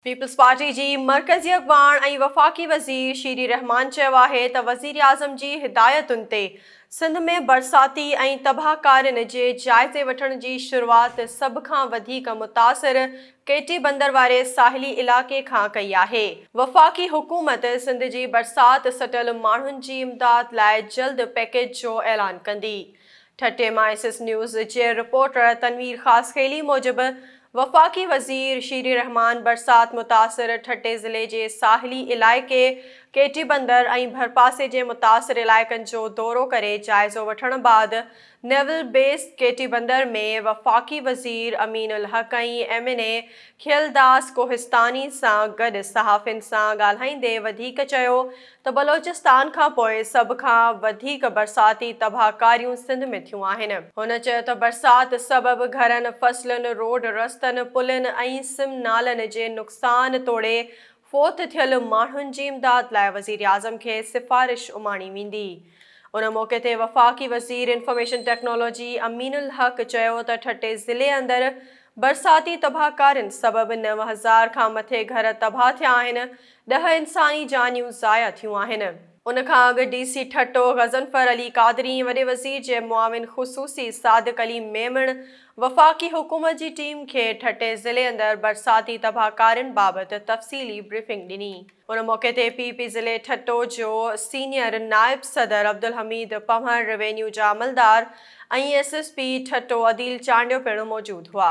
Peoples Party جي مرڪزي اڳواڻ ۽ وفاقي وزير شيري رحمان چيو آهي ته وزيراعظم جي هدايتن تي سنڌ ۾ برساتي ۽ تباهڪارين جي جائزي وٺڻ جي شروعات سڀ کان وڌيڪ متاثر ڪي ٽي بندر واري ساحلي علائقي کان ڪئي آهي، وفاقي حڪومت سنڌ جي برسات سٽل ماڻهن جي امداد لاء جلد پيڪيج جو اعلان ڪندي. ٺٽي مان ايس ايس نيوز جي رپورٽر تنوير خاصخيلي موجب وفاقي وزير شيري الرحمان برسات متاثر ٺٽي ضلعي جي ساحلي علائقي ڪي ٽي بندر ۽ ڀرپاسي جي متاثر علائقن جو دورو ڪري جائزو وٺڻ بعد naval base Keti Bandar ۾ وفاقي وزير Amin ul Haq ۽ M N A Kheldas Kohistani سان گڏ صحافين سان ڳالهائيندي وڌيڪ چيو ته بلوچستان کان پوء سڀ کان وڌيڪ برساتي تباهڪاريون سنڌ ۾ ٿيون آهن. هن چيو ته برسات سبب گهرن، فصلن، روڊ رستن، پلين ۽ سم نالن جي نقصان توڙي فوت ٿيل ماڻهن جي امداد لاء وزيراعظم کي سفارش اماڻي ويندي. ان موقعي تي وفاقي وزير انفارميشن ٽيڪنالاجي امين الحق چيو ته ٺٽي ضلعي اندر برساتي تباهڪارين سبب نو هزار کان مٿي گهر تباهه ٿيا آهن، ڏهه انساني جانيون ضايع ٿيون آهن. ان کان اڳ ڊي سي ٺٽو غضنفر علي قادري ۽ وڏي وزير جي معاون خصوصي صادق علي ميمڻ وفاقي حڪومت جي ٽيم کي ٺٽي ضلعي اندر برساتي تباهڪارين بابت تفصيلي بريفنگ ڏني. ان موقعي تي پي پي ضلعي ٺٽو جو سينيئر نائب صدر عبدالحميد پنهور، روينيو جا عملدار ۽ S S P Thatta Adeel Chandio پڻ موجود هئا.